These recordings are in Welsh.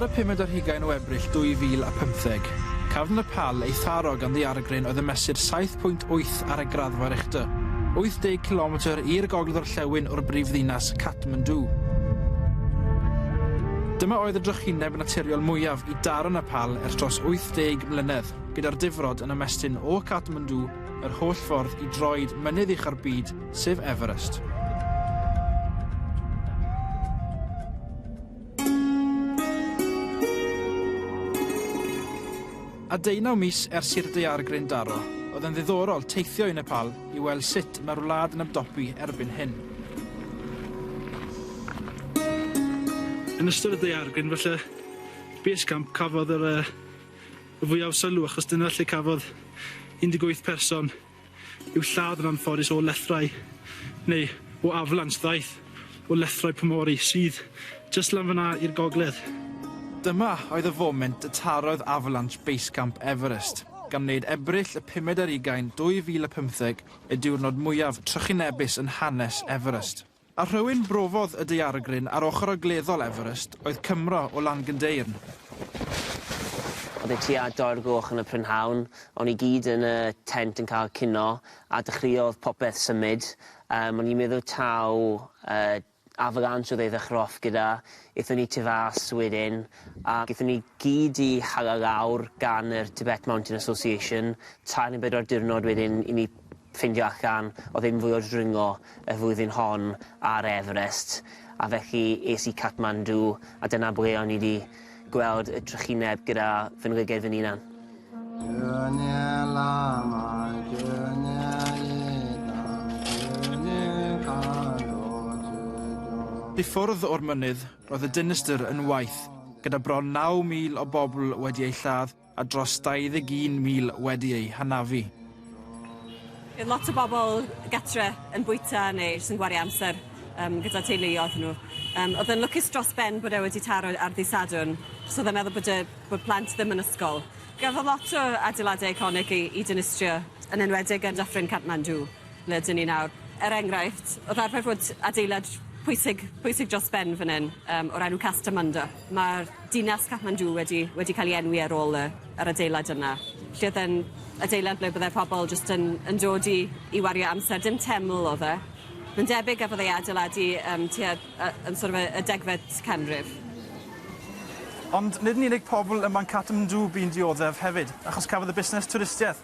Ar y pumed ar hugain o Ebrill 2015, cafn y pal ei tharo gan ddaeargryn oedd yn mesur 7.8 Sylhet ar y graddfa Richter, 80 cilometr i'r gogledd-orllewin o'r brif ddinas Kathmandu. Dyma oedd y drychineb naturiol mwyaf i daro Nepal ers dros 80 mlynedd, gyda'r difrod yn ymestyn o Kathmandu yr holl ffordd i droed mynydd ucha'r byd, sef Everest. A deunaw mis ers i'r daeargryn daro, oedd yn ddiddorol teithio i Nepal i weld sut mae'r wlad yn ymdopi erbyn hyn. Yn ystod y daeargryn falle Base Camp cafodd yr yy y fwyaf o sylw achos dyna lle cafodd 18 person yw lladd yn anffodus o lethrau neu o aflans ddaeth o lethrau Pomori sydd jyst lan fan'na i'r gogledd. Dyma oedd y foment y tarodd Avalanche Basecamp Everest, gan wneud Ebrill y pumed ar ugain 2015 y diwrnod mwyaf trychinebus yn hanes Everest. A rhywun brofodd y daeargryn ar ochr ogleddol Everest oedd Cymro o Langendeyrn. Oedd e tua dau o'r gloch yn y prynhawn, o'n i gyd yn y tent yn cael cinio, a dechreuodd popeth symud. Yym, o'n i'n meddwl taw yy avalanche oedd ei ddechrau off gyda. Aethon ni tu fas wedyn, a gaethon ni gyd i hala lawr gan yr Tibet Mountain Association. Tair neu bedwar diwrnod wedyn i ni ffindio allan oedd e'n fwy o ddringo y flwyddyn hon ar Everest, a felly es i Kathmandu a dyna ble o'n i 'di gweld y trychineb gyda fy nglygaid fy hunan. I ffwrdd o'r mynydd, roedd y dinistr yn waith, gyda bron 9,000 o bobl wedi eu lladd, a dros 21,000 wedi eu hanafu. Bydd lot o bobl gatre yn bwyta neu jyst yn gwario amser um, gyda teuluoedd nhw. Um, oedd yn lwcus dros ben bod e wedi taro ar ddi Sadwn, so oedd e'n meddwl bod, y, bod plant ddim yn ysgol. Gafodd lot o adeiladau eiconig i, i dynistrio, yn enwedig yn Dyffryn Kathmandu. Ble ydyn ni nawr? Er enghraifft, wrth arfer fod adeilad pwysig, pwysig dros ben fan hyn, um, o'r enw Castell Munda. Mae'r dinas Kathmandu wedi, wedi cael ei enwi ar ôl y, yr adeilad yna. Lle oedd yn adeilad ble byddai pobl jyst yn, yn dod i, i wario amser. Dim teml oedd e. Mae'n debyg a fyddai adeiladu um, tua, uh, yn sort of y, y degfed canrif. Ond nid yn unig pobl ym Manhattan Dŵ bu'n dioddef hefyd, achos cafodd y busnes twristiaeth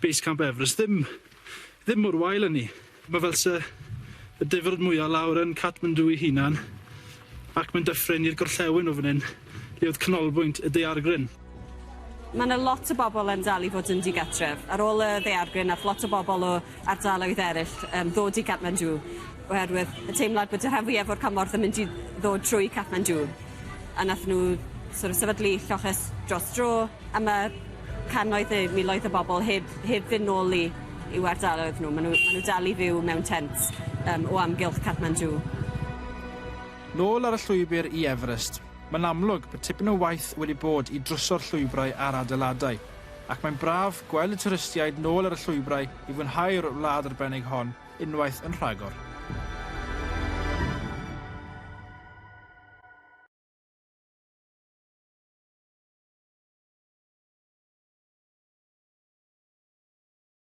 Base Camp Everest ddim ddim mor wael â ni. Ma' fel 'se y difrod mwya' lawr yn Kathmandu ei hunan, ac mae'n dyffryn i'r gorllewin o fan 'yn, lle oedd canolbwynt y daeargryn. Ma' 'na lot o bobl yn dal i fod yn digatref. Ar ôl y ddaeargryn, ath lot o bobl o ardaloedd eraill um, ddod i Kathmandu, oherwydd y teimlad bod y rhan fwyaf o'r cymorth yn mynd i ddod trwy Kathmandu. A nath nhw sort of, sefydlu lloches dros dro, a mae cannoedd neu miloedd o bobl heb, heb fynd nôl i, i'w ardaloedd nhw. Maen nhw, maen nhw dal i fyw mewn tent um, o amgylch Kathmandu. Nôl ar y llwybr i Everest. Mae'n amlwg bod tipyn o waith wedi bod i drwsio'r llwybrau a'r adeiladau. ac mae'n braf gweld y twristiaid nôl ar y llwybrau i fwynhau'r wlad arbennig hon unwaith yn rhagor.